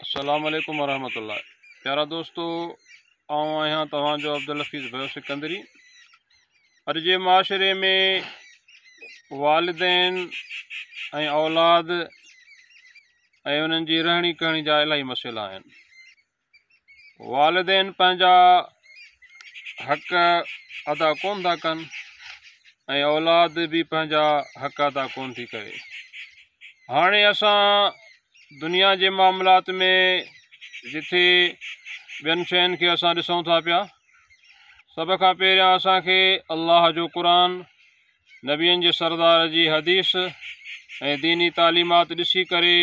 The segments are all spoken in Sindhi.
السلام عليڪم ورحمة الله پيارا دوستو آئون آهيان توهان جو عبدالحفيظ بيو سڪندري اڄ جي معاشري ۾ والدين ۽ اولاد ۽ انهن جي رهڻي ڪهڻي جا الاهي مسئلا آهن والدين پنهنجا حق ادا ڪون ٿا ڪن ۽ اولاد به پنهنجا حق ادا ڪون ٿي ڪري هاڻي اسان دنيا جي معاملات ۾ جٿي ٻين شين کي اسان ڏسون ٿا پيا سڀ کان پهريان اسان کي الله جو قرآن، نبين جي سردار جي حديث ۽ ديني تعليمات ڏسي ڪري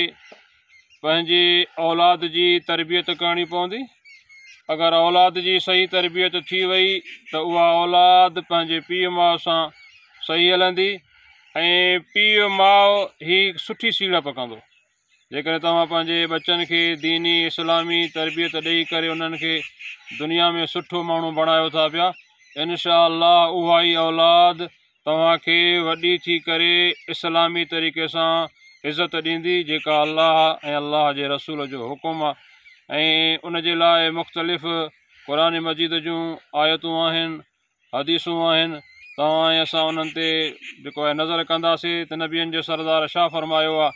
پنهنجي اولاد جي تربيت ڪرڻي پوندي. اگر اولاد جي صحيح تربيت ٿي وئي ته اها اولاد پنهنجي پيء ماء سان صحيح هلندي ۽ ۽ پيء ماء هي هڪ سٺي سيڙپ ڪندو. جيڪڏهن توهان پنهنجي ٻچن کي ديني اسلامي تربيت ڏئي ڪري انهن کي دنيا ۾ سٺو ماڻهو بڻايو ٿا پيا انشاء الله اها ئي اولاد توهان کي وڏي ٿي ڪري اسلامي طريقي سان عزت ڏيندي جيڪا الله ۽ الله جي رسول جو حڪم آهي ۽ ان جي لاء مختلف قرآن مجيد جون آيتون آهن حديثون آهن ته اوهان ۽ اسان انهن تي جيڪو آهي نظر ڪنداسين ته نبين جو سردار شاهه فرمايو آهي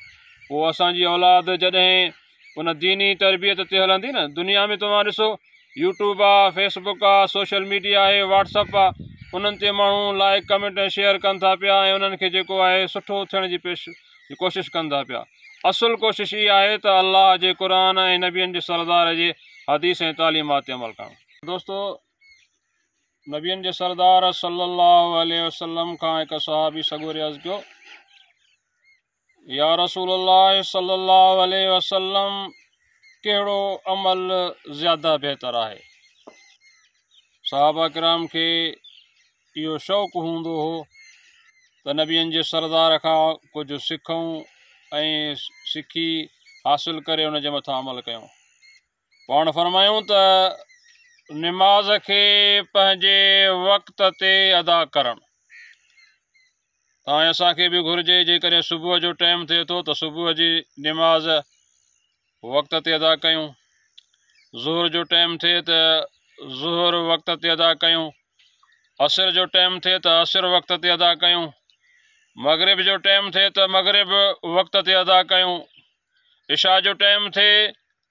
پوء اسان جي اولاد جڏهن ان ديني تربيت تي هلندي نه دنيا ۾ توهان ڏسو يوٽيوب آ فيس بڪ آ سوشل ميڊيا آهي واٽس اپ آ انهن تي ماڻهو لائق ڪمينٽ ۽ شيئر ڪن ٿا پيا ۽ انهن کي جيڪو آهي سٺو ٿيڻ جي پيش جي ڪوشش ڪن ٿا پيا اصل ڪوشش اها آهي ته الله جي قرآن ۽ نبين جي سردار جي حديث ۽ تعليمات تي عمل ڪرڻ دوستو نبين جي سردار صلّي اللّٰه عليه وسلّم کان هڪ صحابي سڳوري عرض ڪيو، يا رسول الله صلّي اللّٰه عليه وسلّم ڪهڙو عمل زياده بهتر آهي؟ صحابه ڪرام کي اهو شوق هوندو هو ته نبين جي سردار کان ڪجهه سکون ۽ سکي حاصل ڪري ان جي مٿان عمل ڪيون. پاڻ فرمايون ته نماز کي پنهنجي وقت تي ادا ڪرڻ تائين اسان کي به گهرجي جيڪڏهن صبح جو ٽائيم ٿئي ٿو ته صبح جي نماز وقت تي ادا ڪيون ظهر جو ٽائيم ٿئي ته ظهر وقت تي ادا ڪيون عصر جو ٽائيم ٿئي ته عصر وقت تي ادا ڪيون مغرب جو ٽائيم ٿئي ته مغرب وقت تي ادا ڪيون عشاء جو ٽيم ٿئي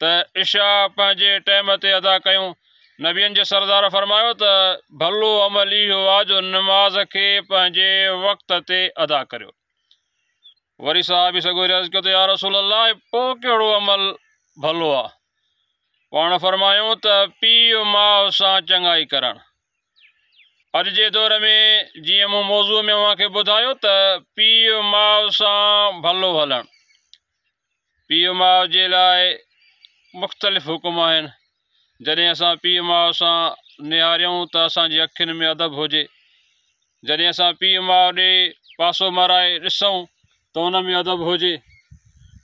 ته عشاء پنهنجي ٽيم تي ادا ڪيون. نبين جي سردار فرمايو ته ڀلو عمل اهو آ جو نماز کي پنهنجي وقت تي ادا ڪريو. وري صحابي سڳوري عرض ڪيو ته يا رسول الله پوء ڪهڙو عمل ڀلو آ؟ پاڻ فرمايون ته پيء ماء سان چڱائي ڪرڻ. اڄ جي دور ۾ جيئن مون موضوع ۾ اوهان کي ٻڌايو ته پيء ماء سان ڀلو هلڻ پيء ماء جي لاء مختلف حڪم آهن جڏهن اسان پيء ماء سان نهاريون ته اسان جي اکين ۾ ادب هجي جڏهن اسان پيء ماء ڏي پاسو مرائي ڏسون ته ان ۾ ادب هجي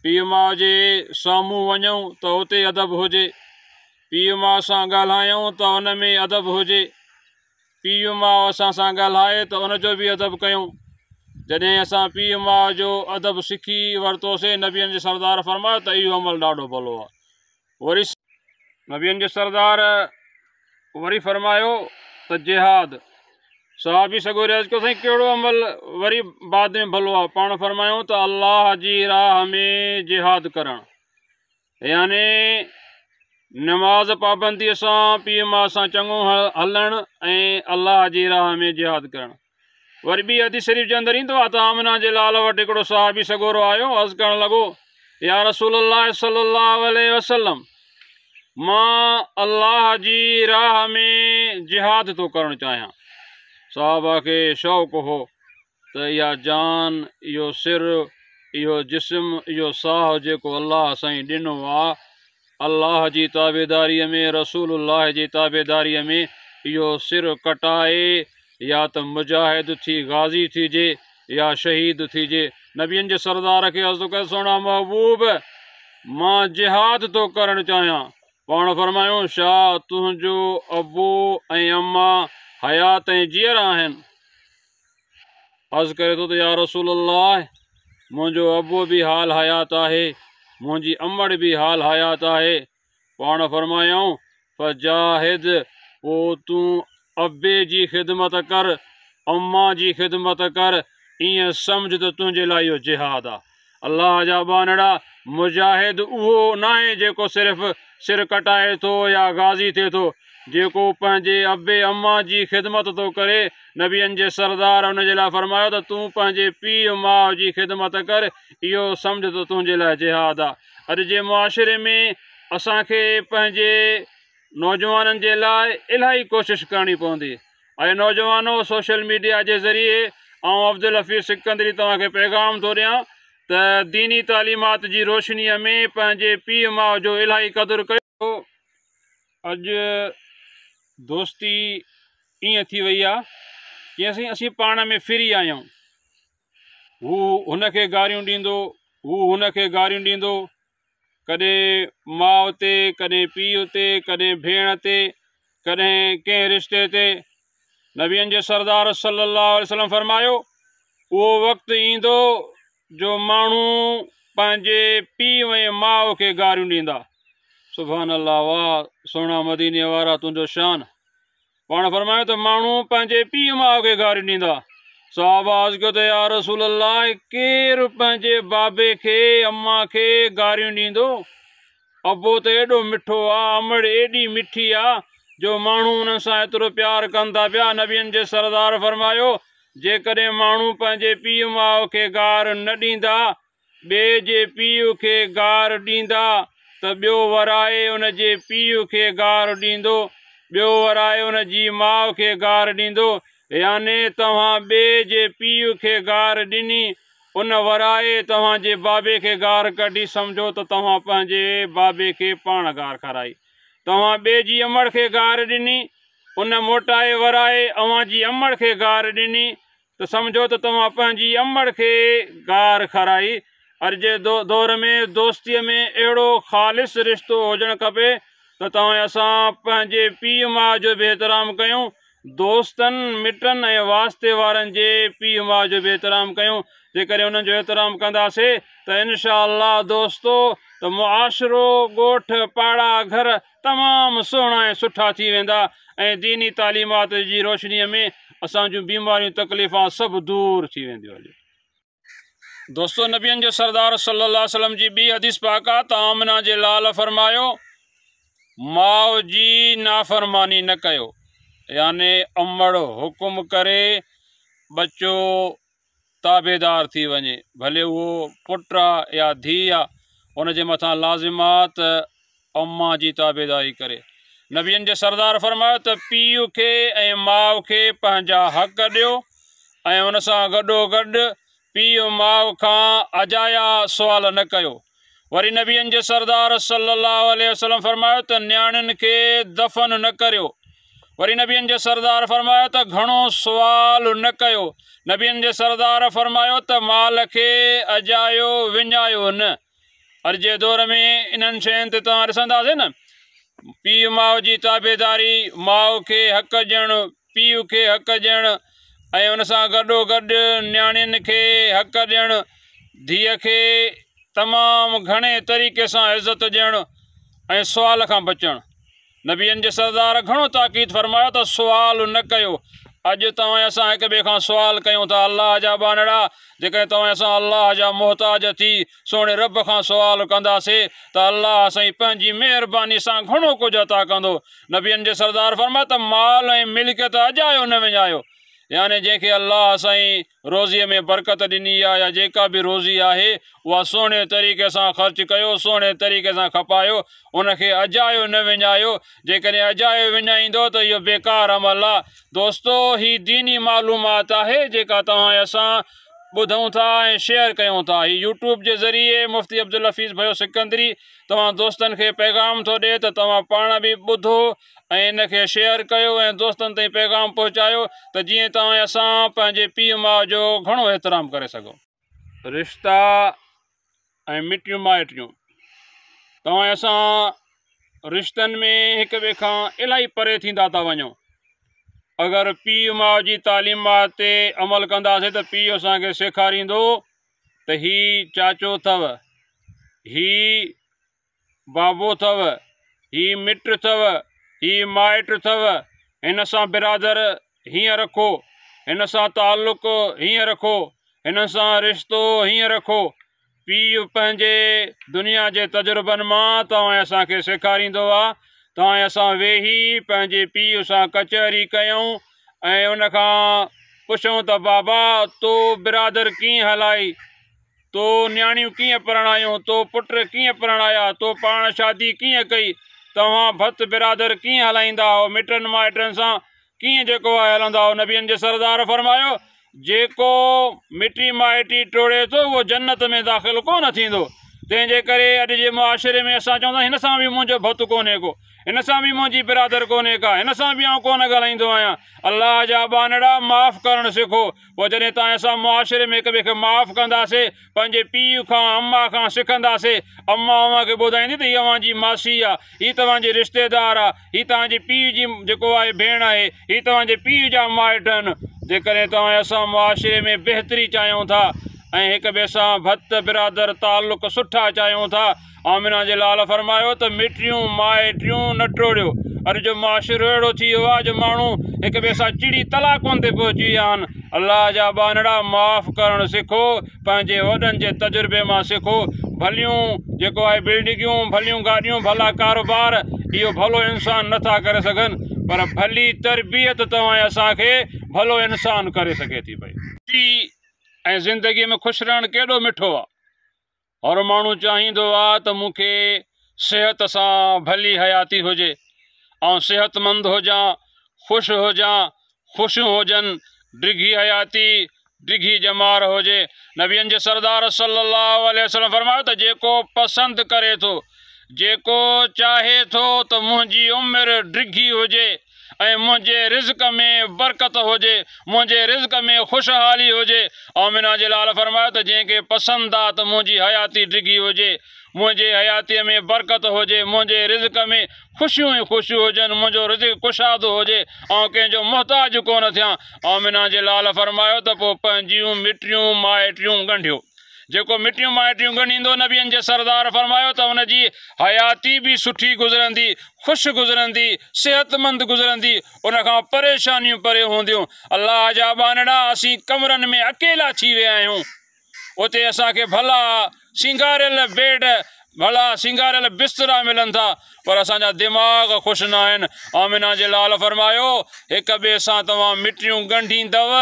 پيء ماء جي سامهون وڃون ته اتي ادب هجي پيء ماء سان ڳالهايون ته ان ۾ ادب هجي. پيء ماء اسان سان ڳالهائي ته ان جو به ادب ڪيون. جڏهن اسان پيء ماء جو ادب سکي ورتوسين نبين جي سردار فرمايو ته اهو عمل ڏاڍو ڀلو آهي. وري نبين جي سردار وري فرمايو ته جهاد. صحابي سڳو رهي عرض ڪيو سائين ڪهڙو عمل وري بعد ۾ ڀلو آهي؟ پاڻ فرمايون ته الله جي راهه ۾ جهاد ڪرڻ. يعني نماز پابنديء سان پيء ماء سان چڱو هلڻ ۽ الله جي راهه ۾ جهاد ڪرڻ. وري ٻي حديث شريف جي اندر ايندو آهي ته آمنه جي لال وٽ هڪڙو صحابي سڳورو آيو عرض ڪرڻ لڳو، يا رسول الله صلي الله عليه وسلم! مان الله جي راهه ۾ جهاد ٿو ڪرڻ چاهيان. صحابه کي شوق هو ته اها جان، اهو سر، اهو جسم، اهو ساهه جيڪو الله اسائين ڏنو آ، الله جي تابعداريء ۾، رسول الله جي تابعداريء ۾ اهو سر ڪٽائي يا ته مجاهد ٿي غازي ٿيجي يا شهيد ٿيجي. نبين جي سردار کي عرض ٿو ڪري، سهڻا محبوب! مان جهاد ٿو ڪرڻ چاهيان. پاڻ فرمايو، شاهه! تنهنجو ابو ۽ اما حيات ۽ جيئرا آهن. عرض ڪري ٿو ته يا رسول الله! منهنجو ابو به حال حيات آهي، منهنجي امڙ به حال حيات آهي. پاڻ فرمايائون، فجاهد، پوء تون ابي جي خدمت ڪر، امان جي خدمت ڪر، ائين سمجهه ته تنهنجي لاء اهو جهاد آهي. الله جا ٻانهڙا، مجاهد اهو ناهي جيڪو صرف سر ڪٽائي ٿو يا غازي ٿئي ٿو. جيڪو پنهنجي ابي اما جي خدمت ٿو ڪري، نبين جي سردار ان جي لاء فرمايو ته تون پنهنجي پيء ماء جي خدمت ڪر، اهو سمجهه ته تنهنجي لاء جهاد آ. اڄ جي معاشري ۾ اسان کي پنهنجي نوجوانن جي لاء الاهي ڪوشش ڪرڻي پوندي. اي نوجوانو سوشل ميڊيا جي ذريعي آئون عبدالحفيظ سڪندري توهان کي پيغام ٿو ڏيان ته ديني تعليمات جي روشنيء ۾ پنهنجي پيء ماء جو الاهي قدر ڪيو. اڄ دوستي ائين ٿي وئي آهي جيئن سائين اسين پاڻ ۾ فري آهيون. هو هن کي گاريون ڏيندو، هو هن کي گاريون ڏيندو ڪڏهن ماء تي، ڪڏهن پيء تي، ڪڏهن ڀيڻ تي، ڪڏهن ڪنهن رشتي تي. نبين جي سردار صلّي اللّٰه عليه وسلّم فرمايو، اهو وقت ايندو جو ماڻهو پنهنجي پيء ۽ ماء کي گاريون ڏيندا. سبحان الله واه سهڻا مديني وارا تنهنجو شان. پاڻ فرمايو ته ماڻهو پنهنجي پيء ماء کي گاري ڏيندا. صحابه عرض ڪيو ته يا رسول الله ڪير پنهنجي بابي کي، امان کي، گاريون ڏيندو؟ ابو ته ايڏو مٺو آ، امڙ ايڏي مٺي آ جو ماڻهو انهن سان ايترو پيار ڪن ٿا پيا. نبين جي سردار فرمايو، جيڪڏهن ماڻهو پنهنجي پيء ماء کي گار نه ڏيندا ٻئي جي پيء کي گار ڏيندا ته ٻيو ورائي ان جي پيء کي گار ڏيندو، ٻيو ورائي ان جي ماء کي گار ڏيندو، يعني توهان ٻئي جي پيء کي گار ڏني، ان ورائي توهان جي بابي کي گار ڪڍي، سمجهو ته توهان پنهنجي بابي کي پاڻ گار کارائي. توهان ٻئي جي امڙ کي گار ڏني، ان موٽائي ورائي اوهان جي امڙ کي گار ڏني، ته سمجهو ته توهان پنهنجي امڙ کي گار کارائي. اڄ جي دور ۾ دوستيء ۾ اهڙو خالص رشتو هجڻ کپي ته توهين اسان پنهنجي پيء ماء جو به احترام ڪيون، دوستن، مٽن ۽ واسطي وارن جي پيء ماء جو به احترام ڪيون. جيڪڏهن انهن جو احترام ڪنداسين ته انشاء الله دوستو ته معاشرو، ڳوٺ، پاڙا، گهر، تمام سهڻا ۽ سٺا ٿي ويندا ۽ ديني تعليمات جي روشنيء ۾ اسان جون بيماريون تڪليفان سڀ دور ٿي وينديون هليون دوستو نبين جو سردار صلي الله عليه وسلم جي ٻي حديث پاڪ آ ته آمنا جي لال فرمايو ماء جي نافرماني نه ڪيو يعني امڙ حڪم ڪري ٻچو تابعدار ٿي وڃي، ڀلي اهو پٽ آ يا ڌيء آ، ان جي مٿان لازم آ ته امان جي تابعداري ڪري. نبين جي سردار فرمايو ته پيء کي ۽ ماء کي پنهنجا حق ڏيو ۽ ان سان گڏوگڏ پيء ماء کان اجايا سوال نه ڪيو. وري نبين جي سردار صلّي اللّٰه عليه وسلّم فرمايو ته نياڻين کي دفن نه ڪريو وري نبين جي سردار فرمايو ته گھڻو سوال نه ڪيو نبين جي سردار فرمايو ته مال کي اجايو وڃايو نه اڄ جي دور ۾ انهن شين تي توهان ڏسنداسين نه پيء ماء جي تابعداري ماء کي حق ڏيڻ پيء کي حق ڏيڻ ۽ ان سان گڏوگڏ نياڻين کي حق ڏيڻ، ڌيء کي تمام گهڻي طريقي سان عزت ڏيڻ ۽ سوال کان بچڻ. نبين جي سردار گهڻو تاڪيد فرمايو ته سوال نه ڪيو. اڄ توهان ۽ اسان هڪ ٻئي کان سوال ڪيون ٿا، الله جا ٻانهڙا، جيڪڏهن توهان ۽ اسان الله جا محتاج ٿي، سهڻي رب کان سوال ڪنداسي ته الله سائين پنهنجي مهرباني سان گهڻو ڪجهه عطا ڪندو. نبين جي سردار فرمايو ته مال ۽ ملڪيت اجايو نه وڃايو. يعني جنهن کي الله سائين روزي ۾ برڪت ڏني آهي يا جيڪا به روزي آهي اها سهڻي طريقي سان خرچ ڪيو، سهڻي طريقي سان کپايو، ان کي اجايو نه وڃايو. جيڪڏهن اجايو وڃائيندؤ ته اهو بيڪار عمل آهي. دوستو! هي ديني معلومات آهي جيڪا توهان ۽ اسان ٻڌون ٿا ۽ شيئر ڪيون ٿا. هي يوٽيوب جي ذريعي مفتي عبدالحفيظ ڀيو سڪندري توهان دوستن کي پيغام ٿو ڏي ته توهان پاڻ به ٻڌو ۽ ان کي شيئر ڪيو ۽ دوستن تائين پيغام پهچايو ته جيئن توهان ۽ اسان پنهنجي پيء ماء جو گهڻو احترام ڪري سگهون. رشتا ۽ مٽيون مائٽيون توهان ۽ اسان رشتن ۾ هڪ ٻئي کان الاهي پري ٿيندا ٿا وڃون اگر پيء ماء جي تعليمات تي عمل ڪنداسي ته پيء اسان کي سيکاريندو ته هي چاچو اٿو هي بابو ٿو، هي مٽ ٿو، هي مائٽ ٿو، هن سان برادر هيئن رکو، هن سان تعلق هيئن رکو، هنن سان رشتو هيئن رکو. پيء پنهنجي دنيا جي تجربن مان توهان اسان کي سيکاريندو آ. توهان اسان ويهي پنهنجي پيء سان ڪچهري ڪيون ۽ ان کان پڇون ته بابا تو برادر ڪيئن هلائي؟ تو نياڻيون ڪيئن پرڻايون، تو پٽ ڪيئن پرڻايا، تو پاڻ شادي ڪيئن ڪئي، توهان ڀت برادر ڪيئن هلائيندا هئو، مٽن مائٽن سان ڪيئن جيڪو آهي هلندا هئو، نبين جي سردار فرمايو، جيڪو مٽي مائٽي ٽوڙي ٿو اهو جنت ۾ داخل ڪو نه ٿيندو، تنهن جي ڪري اڄ جي معاشري ۾ اسان چون ٿا هن سان به منهنجو ڀت ڪونهي ڪو، هن سان به منهنجي برادر ڪونهي ڪا، هن سان به آئون ڪونه ڳالهائيندو آهيان، الله جا ٻانهڙا معاف ڪرڻ سکو. پوء جڏهن توهان اسان معاشري ۾ هڪ ٻئي کي معاف ڪنداسين، پنهنجي پيء کان، اما کان سکنداسين، اما اوهان کي ٻڌائيندي ته هي اوهان جي ماسي آ، هي توهان جي رشتيدار آ، هي توهان جي پيء جي جيڪو آهي ڀيڻ آهي، هي توهان جي پيء جا مائٽ آهن. جيڪڏهن توهان ۽ اسان معاشري ۾ بهتري چاهيون ٿا ۽ هڪ ٻئي سان ڀت برادر تعلق سٺا چاهيون ٿا، آمنه جي لال فرمايو ته مٽيون مائٽيون نه ٽوڙيو، اڄ جو معاشرو اهڙو ٿي ويو آهي جو ماڻهو هڪ ٻئي سان چڙي طلاقن تي پهچي ويا آهن، الله جا ٻانهڙا معاف ڪرڻ سکو، پنهنجي وڏن جي تجربي مان سکو، ڀليون جيڪو آهي بلڊنگيون، ڀليون گاڏيون، ڀلا ڪاروبار اهو ڀلو انسان نه ٿا ڪري سگهن پر ڀلي تربيت توهان ۽ اسان کي ڀلو انسان ڪري سگهي ٿي پئي. ٽي ۽ زندگي ۾ خوش رهڻ ڪيڏو مٺو آ. هر ماڻهو چاهيندو آ ته مون کي صحت سان ڀلي حياتي هجي، آئون صحتمند هجان، خوش هجان، خوشيون هجن، ڊگهي حياتي، ڊگهي ڄمار هجي. نبين جي سردار صلّي اللّٰه عليه وسلّم فرمايو ته جيڪو پسند ڪري ٿو، جيڪو چاهي ٿو ته منهنجي عمر ڊگهي هجي، ۽ منهنجي رزق ۾ برڪت هجي، منهنجي رزق ۾ خوشحالي هجي. آمنه جي لال فرمايو ته جنهن کي پسند آ ته منهنجي حياتي ڊگهي هجي، منهنجي حياتيء ۾ برڪت هجي، منهنجي رزق ۾ خوشيون ئي خوشيون هجن، منهنجو رزق ڪشادو هجي، آئون ڪنهن جو محتاج ڪونه ٿيان. آمنه جي لال فرمايو ته پوء پنهنجيون مٽيون مائٽيون ڳنڍيو. جيڪو مٽيون مائٽيون ڳنڍيندو، نبين جي سردار فرمايو ته ان جي حياتي به سٺي گذرندي، خوش گذرندي، صحتمند گذرندي، ان کان پريشانيون پري هونديون. الله جا ٻانهڙا اسين ڪمرن ۾ اڪيلا ٿي ويا آهيون، اتي اسان کي ڀلا سينگاريل بيڊ، ڀلا سينگاريل بسترا ملن ٿا، پر اسان جا دماغ خوش ناهن. آمنه جي لال فرمايو، هڪ ٻئي سان توهان مٽيون ڳنڍيندؤ،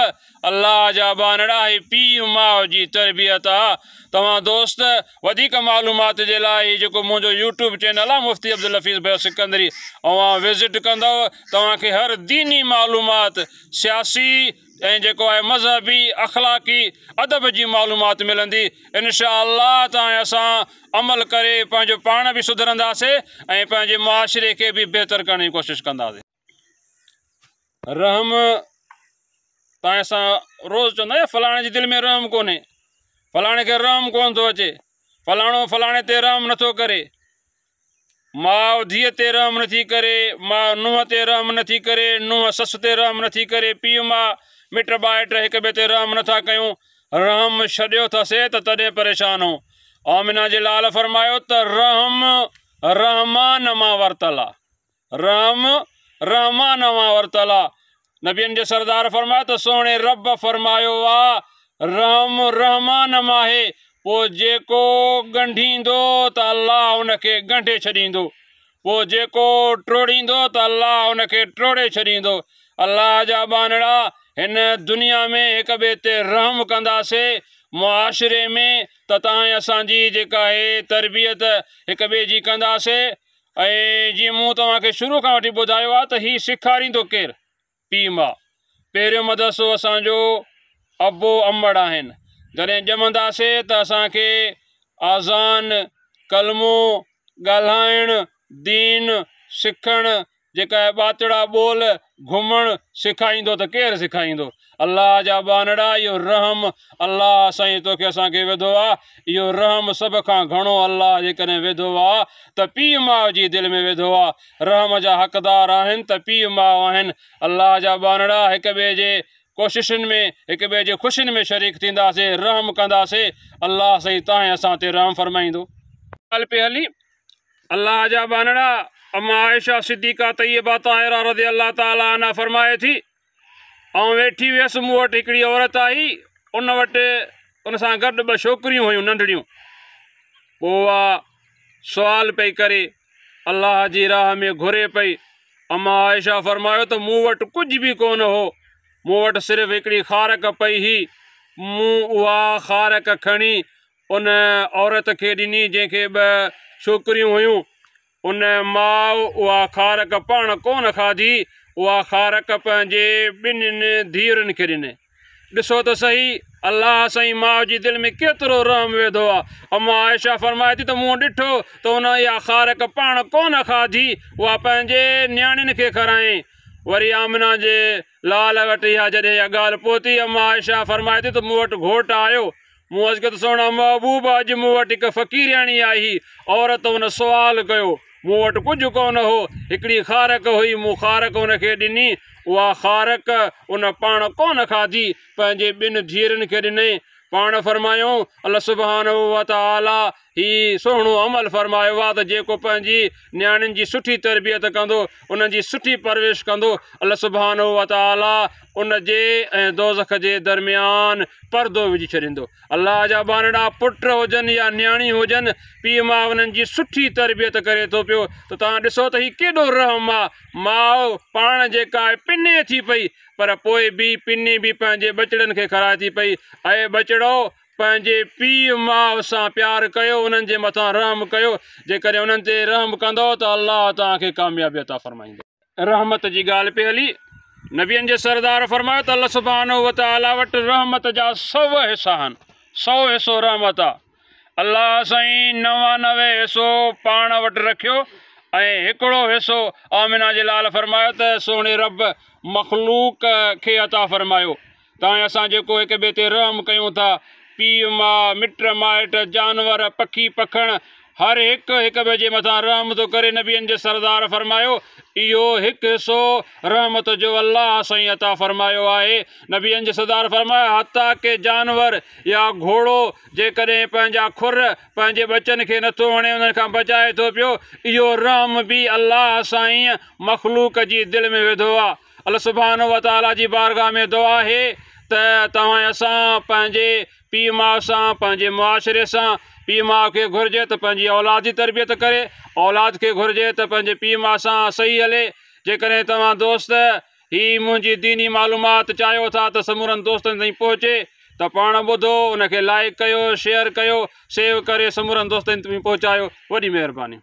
الله جا ٻانهڙا هي پيء ماء جي تربيت آ توهان دوست وڌيڪ معلومات جي لاء هي جيڪو منهنجو يوٽيوب چينل آ مفتي عبدالحفيظ ڀيو سڪندري اوهان وزٽ ڪندؤ توهان کي هر ديني معلومات سياسي ۽ جيڪو آهي مذهبي اخلاقي ادب جي معلومات ملندي انشاء الله ته ۽ اسان عمل ڪري پنهنجو پاڻ به سڌرنداسي ۽ پنهنجي معاشري کي به بهتر ڪرڻ جي ڪوشش ڪنداسي. رحم تان اسان روز چوندا آهيون فلاڻي جي دل ۾ رحم ڪونهي فلاڻي کي رحم ڪون ٿو اچي فلاڻو فلاڻي تي رحم نٿو ڪري ماء ڌيء تي رحم نٿي ڪري ماء نوح تي رحم نٿي ڪري نوح سس تي رحم نٿي ڪري پيء ماء مٽ ٻائٽ هڪ ٻئي تي رحم نٿا ڪيون رحم ڇڏيو اٿسي ته تڏهن پريشان هو آمنا جي لال فرمايو ته رحم رحمان مان ورتل آ رحم رحمان اوهان ورتل آ. نبين جي سردار فرمايو ته سهڻي رب فرمايو آ رحم رحمان مان آهي پوء جيڪو ڳنڍيندو ته الله ان کي ڳنڍي ڇڏيندو پوء جيڪو ٽوڙيندو ته الله ان کي ٽوڙي ڇڏيندو الله جا ٻانهڙا هن دنيا ۾ هڪ ٻئي تي رحم ڪنداسي معاشري ۾ ته تانئين اسان جي جيڪا هي تربيت هڪ ٻئي جي ڪنداسي ۽ جيئن مون توهان کي شروع کان وٺي ٻڌايو آهي ته هي سيکاريندو ڪير؟ پيء ماء. پهريون مدرسو اسان جو ابو امڙ آهن. جڏهن ڄمنداسين ته اسان کي آذان، ڪلمو، ڳالهائڻ، دين، سکڻ، جيڪا هي ٻاتڙا ٻول گهمڻ سيکائيندو ته ڪير سيکائيندو الله جا ٻانهڙا اهو رحم الله سائين توکي اسان کي وڌو آ اهو رحم سڀ کان گهڻو الله جيڪڏهن وڌو آ ته پيء ماء جي دل ۾ وڌو آ رحم جا حقدار آهن ته پيء ماء آهن الله جا ٻانهڙا هڪ ٻئي جي ڪوششن ۾ هڪ ٻئي جي خوشين ۾ شريڪ ٿينداسي رحم ڪنداسي الله سائين تانهين اسان تي رحم فرمائيندو. ڳالهه پئي هلي الله جا ٻانهڙا اما عائشه صديقه طيبه طاهره رضي الله تعالٰي عنها فرمائي ٿي آئون ويٺي هيس مون وٽ هڪڙي عورت آئي ان وٽ ان سان گڏ ٻه ڇوڪريون هيون ننڍڙيون پوء سوال پئي ڪري الله جي راهه ۾ گهري پئي اما عائشه فرمايو ته مون وٽ ڪجهه به ڪونه هو مون وٽ صرف هڪڙي خارڪ پئي هي مون اها خارڪ کڻي ان عورت کي ڏني جنهن کي ٻه ڇوڪريون هيون. ان ماء اها خارڪ پاڻ ڪونه کاڌي، اها خارڪ پنهنجي ٻنهين ڌيئرن کي ڏني. ڏسو ته سهي، الله سائين ماء جي دل ۾ ڪيترو رحم وڌو آ. اما عائشه فرمائي ٿي ته مون ڏٺو ته ان اها خارڪ پاڻ ڪونه کاڌي، اها پنهنجي نياڻين کي کارائين. وري آمنه جي لعل وٽ اها جڏهن اها ڳالهه پهتي، اما عائشه فرمائي ٿي ته مون وٽ گهوٽ آيو، مون عرض ڪيو ته سهڻا محبوب! اڄ مون وٽ هڪ فقيرياڻي آئي هئي، عورت ان سوال ڪيو، مون وٽ ڪجهه ڪونه هو، هڪڙي خارڪ هئي، مون خارڪ ان کي ڏني، اها خارڪ ان پاڻ ڪونه کاڌي، پنهنجي ٻن ڌيئرن کي ڏنائين، پاڻ فرمايائون، الله سبحانه وتعاليٰ هي سهڻو عمل فرمايو آهي ته جيڪو پنهنجي نياڻين جي سٺي تربيت ڪندو انهن جي سٺي پرورش ڪندو الله سبحانه وتعالي ان جي ۽ دوزخ جي درميان پردو وجهي ڇڏيندو الله جا ٻانهڙا پٽ هجن يا نياڻي هجن پيء ماء انهن جي سٺي تربيت ڪري ٿو پيو ته توهان ڏسو ته هي ڪيڏو رحم آهي ماء پاڻ جيڪا آهي پني ٿي پئي پر پوء به پني به پنهنجي ٻچڙن کي کارائي ٿي پئي اي ٻچڙو پنهنجي پيء ماء سان پيار ڪيو انهن جي مٿان رحم ڪيو جيڪڏهن انهن تي رحم ڪندؤ ته الله توهان کي ڪاميابي عطا فرمائيندو. رحمت جي ڳالهه پئي هلي نبين جي سردار فرمايو ته الله سبحانه وتعالي وٽ رحمت جا سؤ حصا آهن سؤ حصو رحمت آ الله سائين نوانوي حصو پاڻ وٽ رکيو ۽ هڪڙو حصو آمنه جي لال فرمايو ته سهڻي رب مخلوق کي عطا فرمايو تائين اسان جيڪو هڪ ٻئي تي رحم ڪيون ٿا، پيء ماء، مٽ مائٽ، جانور، پکي پکڻ، هر هڪ هڪ ٻئي جي مٿان رحم ٿو ڪري، نبين جي سردار فرمايو، اهو هڪ حصو رحمت جو الله سائين عطا فرمايو آهي، نبين جي سردار فرمايو، حتيٰ ڪه جانور يا گهوڙو جيڪڏهن پنهنجا کر پنهنجي ٻچن کي نٿو هڻي انهن کان بچائي ٿو پيو، اهو رحم به الله سائين مخلوق جي دل ۾ وڌو آهي. الله سبحانه وتعاليٰ جي بارگاھ ۾ دعا آهي ته توهان ۽ اسان پنهنجي پيء ماء سان پنهنجي معاشري سان پيء ماء کي گهرجي ته پنهنجي اولاد جي تربيت ڪري اولاد کي گهرجي ته پنهنجي پيء ماء سان صحيح هلي جيڪڏهن توهان دوست هي منهنجي ديني معلومات چاهيو ٿا ته سمورن دوستن تائين پهچي ته پاڻ ٻڌو ان کي لائيڪ ڪيو شيئر ڪيو سيو ڪري سمورن دوستن تائين پهچايو وڏي مهرباني.